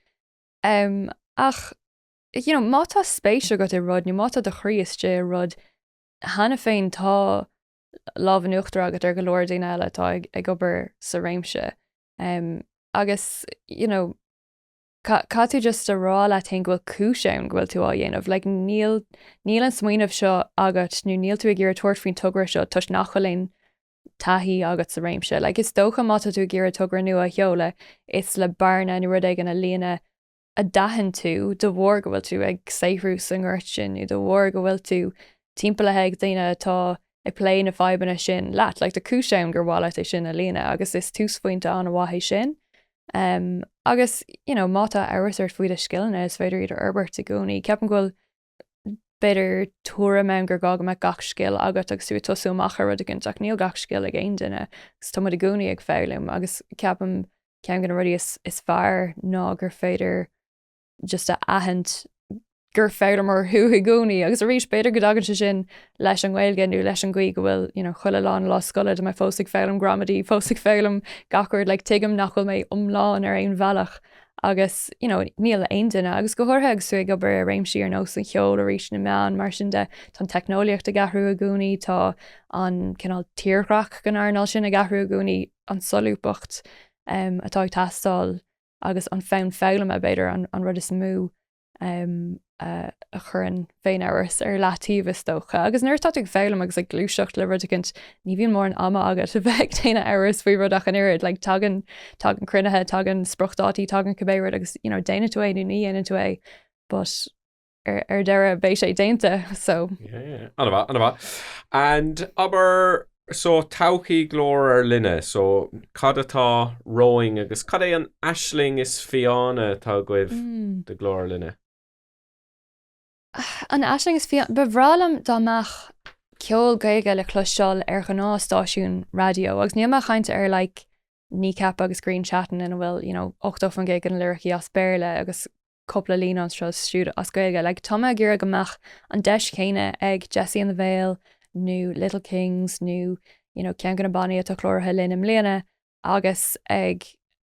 Ach, you know, má tá spéis agat i rud nó má tá do chroí istigh i rud, Cheana féin, tá lámh in uachtar agat ar go leor daoine eile atá ag obair sa réimse agus, you know, caithfidh tú just a rá leat féin go bhfuil cúis ann go bhfuil tú á dhéanamh. Like, níl, níl an smaoineamh seo agat nó níl tú ag iarraidh tabhairt faoin togra seo toisc nach bhfuil aon taithí agat sa réimse. Like, is dócha má tá tú ag iarraidh togra nua a sheoladh, is le bearna nó rud éigin a líonadh a d'aithin tú de bharr go bhfuil tú ag saothrú sa ngort sin nó de bharr go bhfuil tú timpeallaithe ag daoine atá ag plé na fadhbanna sin leat, like, tá cúis ann gur mhaith leat é sin a líonadh agus is túsphointe an-mhaith é sin. Um, agus, you know, má tá amhras ort faoi do scileanna, is féidir iad a fhorbairt i gcónaí. Ceapaim go bhfuil b'fhéidir, tuairim ann gur gá go mbeadh gach scil agat agus tú ag tosú amach ar rud éigint, ach níl gach scil ag aon duine agus tá muid i gcónaí ag foghlaim agus ceapaim ceann de na rudaí is, is fearr ná gur féidir just a aithint gur foghlaimeoir thú i gcónaí agus arís b'fhéidir go dtagann sé sin leis an nGaeilge nó leis an gcaoi go bhfuil you know, chuile lá lá scoile, tá mé fós ag foghlaim gramadaí, fós ag foghlaim gach rud, like, tuigim nach bhfuil mé iomlán ar aon bhealach agus, you know, níl aon duine, agus go háirithe agus tú ag obair i réimsí ar nós an cheoil arís na meán, mar sin de, tá an teicneolaíocht ag athrú i gcónaí, tá an cineál tírdhreach den earnáil sin ag athrú i gcónaí, an solúbthacht um atá ag teastáil agus an fonn foghlama, b'fhéidir, an rud is mó a chuireann féinamhras ar leataobh is dócha, agus nuair atá tú ag foghlaim agus ag gluaiseacht le rud éicint, ní bhíonn mórán ama agat a bheith ag déanamh amhras faoi rud ach an oiread, like, tagann, tagann cruinnithe, tagann spriocdhátaí, tagann cibé rud agus, you know, déanann tú é nó ní dhéanann tú é, but ar, ar deireadh beidh sé déanta, so. Yeah, yeah, yeah. Ana mhaith, ana mhaith. And abair, So todhchaí Glór ár Linne, so cad atá romhainn agus cad é an aisling is fiáine atá agaibh do Ghlór ár Linne? An aisling is fiáine? Ba bhreá liom dá mbeadh ceol Gaeilge le cloisteáil ar ghnáth stáisiún raidió agus níl mé ag chaint ar like Kneecap agus Grian Chatten ina bhfuil you know 80% de na liricí as Béarla agus cúpla líne anseo is siúd as Gaeilge. Like, tá mé ag iarraidh go mbeadh an deis chéanna ag Jessie and the Veil nó Little Kings nó, you know, ceann de na bannaí atá cláraithe linn i mbliana agus ag,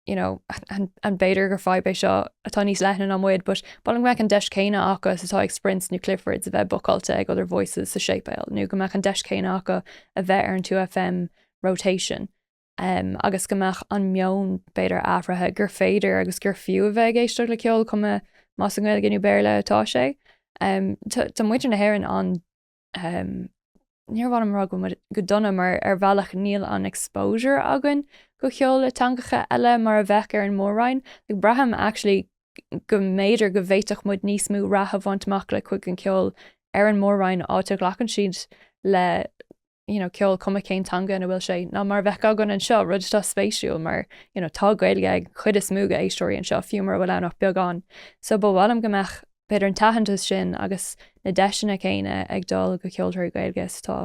you know, an b'fhéidir gur fadhb é seo atá níos leithne ná muid, but bhuel go mbeadh an deis chéanna acu is atá ag Sprints nó Cliffords a bheith bucáilte ag Other Voices sa séipéal nó go mbeadh an deis chéanna acu a bheith ar an 2FM Rotation. agus go mbeadh an meon, b'fhéidir, athraithe, gur féidir agus gur fiú a bheith ag éisteacht le ceol, cuma más i nGaeilge nó Béarla atá sé. Tá muintir na hÉireann an, níor mhaith liom a rá go dona mar ar bhealach níl an exposure againn go ceol le teangacha eile mar a bheadh ar an mór-roinn. Like braithim actually go mb'fhéidir go bhféadfadh muid níos mó rath a bhaint amach le cuid den cheol ar an mór-roinn áit a ghlacann siad le you know, ceol cuma cén teanga ina bhfuil sé, ná mar a bheadh againn anseo, rud atá spéisiúil mar, you know, tá Gaeilge ag cuid is mó d'éisteoirí anseo fiú mura bhfuil ann ach beagán. So ba mhaith liom go mbeadh, b'fhéidir, an t-aitheantas sin agus na deiseanna céanna ag dul go ceoltóirí Gaeilge is atá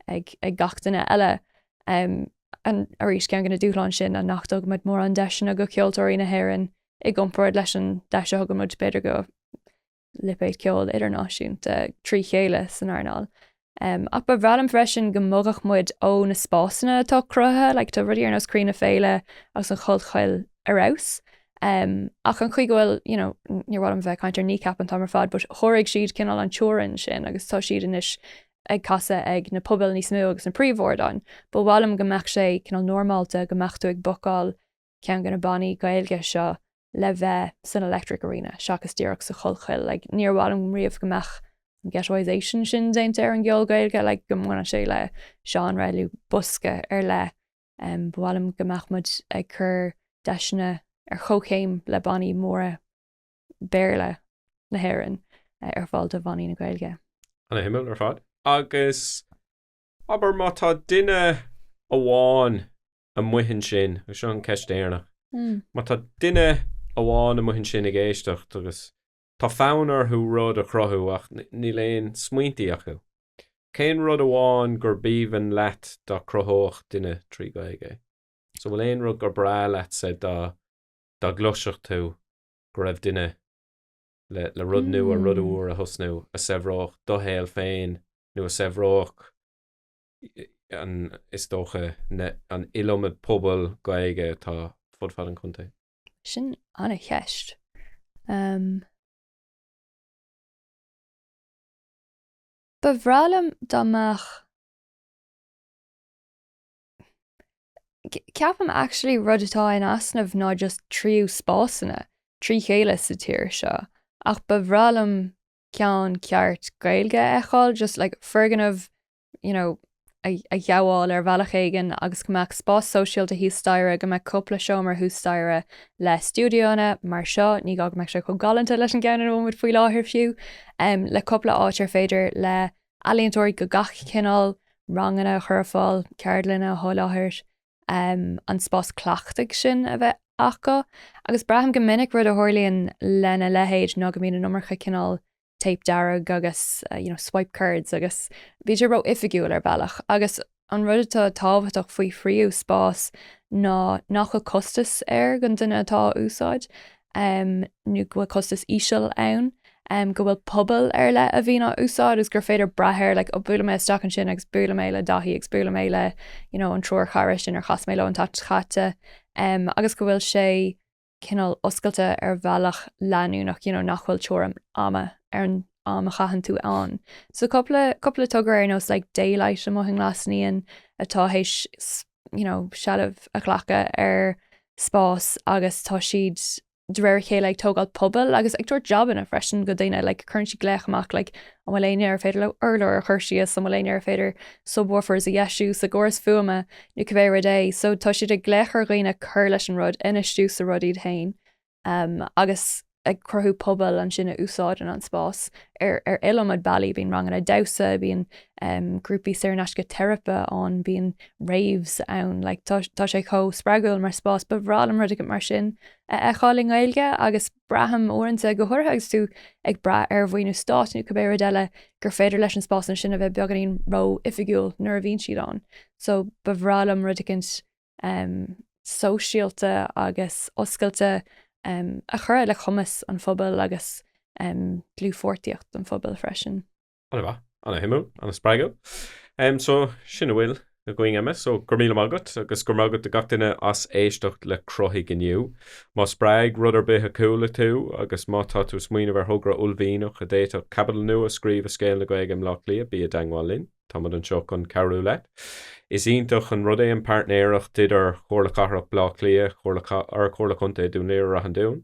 ag, ag gach duine eile. Um, and, arís, ceann de na dúshláin sin ná nach dtugann muid mórán deiseanna go ceoltóirí na hÉireann i gcomparáid leis an deis a thugann muid, b'fhéidir, go, lipéid ceoil idirnáisiúnta trí chéile san earnáil. Ach ba bhreá liom freisin go mbogadh muid ó na spásanna atá cruthaithe, like tá rudaí ar nós Croí na Féile agus an Chollchoill ar fheabhas. Ach an chaoi go bhfuil, you know, níor mhaith liom bheith ag caint ar Kneecap an t-am ar fad but sháraigh siad cineál an teorainn sin agus tá siad anois ag casadh ag na pubaill níos mó agus na príomhardáin. Ba mhaith liom go mbeadh sé cineál normálta go mbeadh tú ag bookáil, ceann de na bannaí Gaeilge seo le bheith san electric arena seachas díreach sa Chollchoill. Like, níor mhaith liom riamh go mbeadh an ghettoisation sin déanta ar an gceol Gaeilge, like, go mbaineann sé le seánra nó bosca ar leith. Um, ba mhaith liom go mbeadh muid ag cur deiseanna ar chomhchéim le bannaí móra Béarla na hÉireann eh, ar fáil do bhannaí na Gaeilge. Ana-shuimiúil ar fad. Agus abair má tá duine amháin amuigh ansin, agus seo an ceist deireanach, má tá duine amháin amuigh ansin ag éisteacht agus tá fonn orthu rud a chruthú ach níl aon smaointí acu, cén rud amháin gurb aoibhinn leat dá cruthódh duine trí Ghaeilge? So bhfuil aon rud gur breá leatsa dá dá gcloisfeadh tú go raibh duine le le rud nua, rud úr a thosnú a saibhreodh do shaol féin nó a saibhreodh, is dócha, an iliomad pobail Ghaeilge atá fud fad an chontae. Sin an-cheist. Ba bhreá liom dá mbeadh, ceapaim actually rud atá in easnamh ná just tríú spásanna trí chéile sa tír seo ach ba bhreá liom ceann ceart Gaeilge a fheiceáil, just like foirgneamh you know, a ghabháil ar bhealach éigin agus go mbeadh spás sóisialta thuas staighre, go mbeadh cúpla seomra thuas staighre le stiúideoanna mar seo, ní gá go mbeadh sé chomh galánta leis an gceann ina bhfuil muid faoi láthair fiú, le cúpla áit ar féidir le ealaíontóirí de gach cineál ranganna a chur ar fáil, ceardlanna a sholáthar, an spás cleachtaidh sin a bheith acu. Agus braithim go minic rud a tharlaíonn lena leithéid ná go mbíonn an iomarca cineál téip dearg agus you know swipe cards agus bíonn sé ró-oifigiúil ar bhealach agus an rud atá tábhachtach faoi thríú spás ná nach bhfuil costas air don duine atá á úsáid nó go bhfuil costas íseal ann, go bhfuil pobail ar leith a bhíonn á úsáid agus gur féidir brath air like ó buaileann mé isteach ansin agus buaileann mé le Daithí agus buaileann mé le an triúr chara sin ar chas mé leo an tseachtain seo caite agus go bhfuil sé cineál oscailte ar bhealach leanúnach, you know, nach bhfuil teorainn ama ar an am a chaitheann tú ann. So cúpla, cúpla togra ar nós like daylight amuigh i nGlasnaíon atá théis, you know, seilbh a ghlacadh ar spás agus tá siad de réir a chéile ag tógáil pobail agus ag tabhairt jabanna freisin go daoine, like cuireann siad glaoch amach like an bhfuil éinne ar féidir leo urlár a chur síos, an bhfuil éinne ar féidir subwoofers a dheisiú sa gcóras fuaime, nó cibé rud é, so tá siad ag glaoch ar dhaoine cur leis an rud, infheistiú sa rud iad féin agus ag cruthú pobail ansin a úsáideann an spás ar, ar iliomad bealaí, bíonn ranganna damhsa, bíonn um, grúpaí saor in aisce teiripe ann, bíonn raves ann, like, tá, tá sé chomh spreagúil mar spás, ba bhreá liom rud mar sin a fheiceáil i nGaeilge agus Braithim uaireanta, go háirithe agus tú ag brath ar mhaoiniú stáit nó cibé rud eile, gur féidir leis na spásanna sin a bheith beagáinín ró-oifigiúil nuair a bhíonn siad ann. So ba bhreá liom rud eicint em sóisialta agus oscailte em a chuirfeadh le cumas an phobail agus em dlúthpháirtíocht an phobail freisin. An-mhaith, an-suimiúil, an-spreagúil. Em, so, sin a bhfuil againn am, so go raibh míle maith agat agus go raibh maith agat do gach duine as éisteacht le cruthaigh inniu. Má spreag rud ar bith a chuala tú agus má tá tú ag smaoineamh ar thogra uaillmhianach a d'fhéadfadh caibidil nua a scríobh i scéal na Gaeilge i mBleá Cliath, bí i dteagmháil linn, tá muid anseo chun cabhrú leat. Is iontach an rud é an páirtnéireacht idir Chomhairle Cathrach Bleá Cliath, Chomhairle Ch, Ard-Chomhairle Chontae Dún Laoghaire, Ráth an Dúin.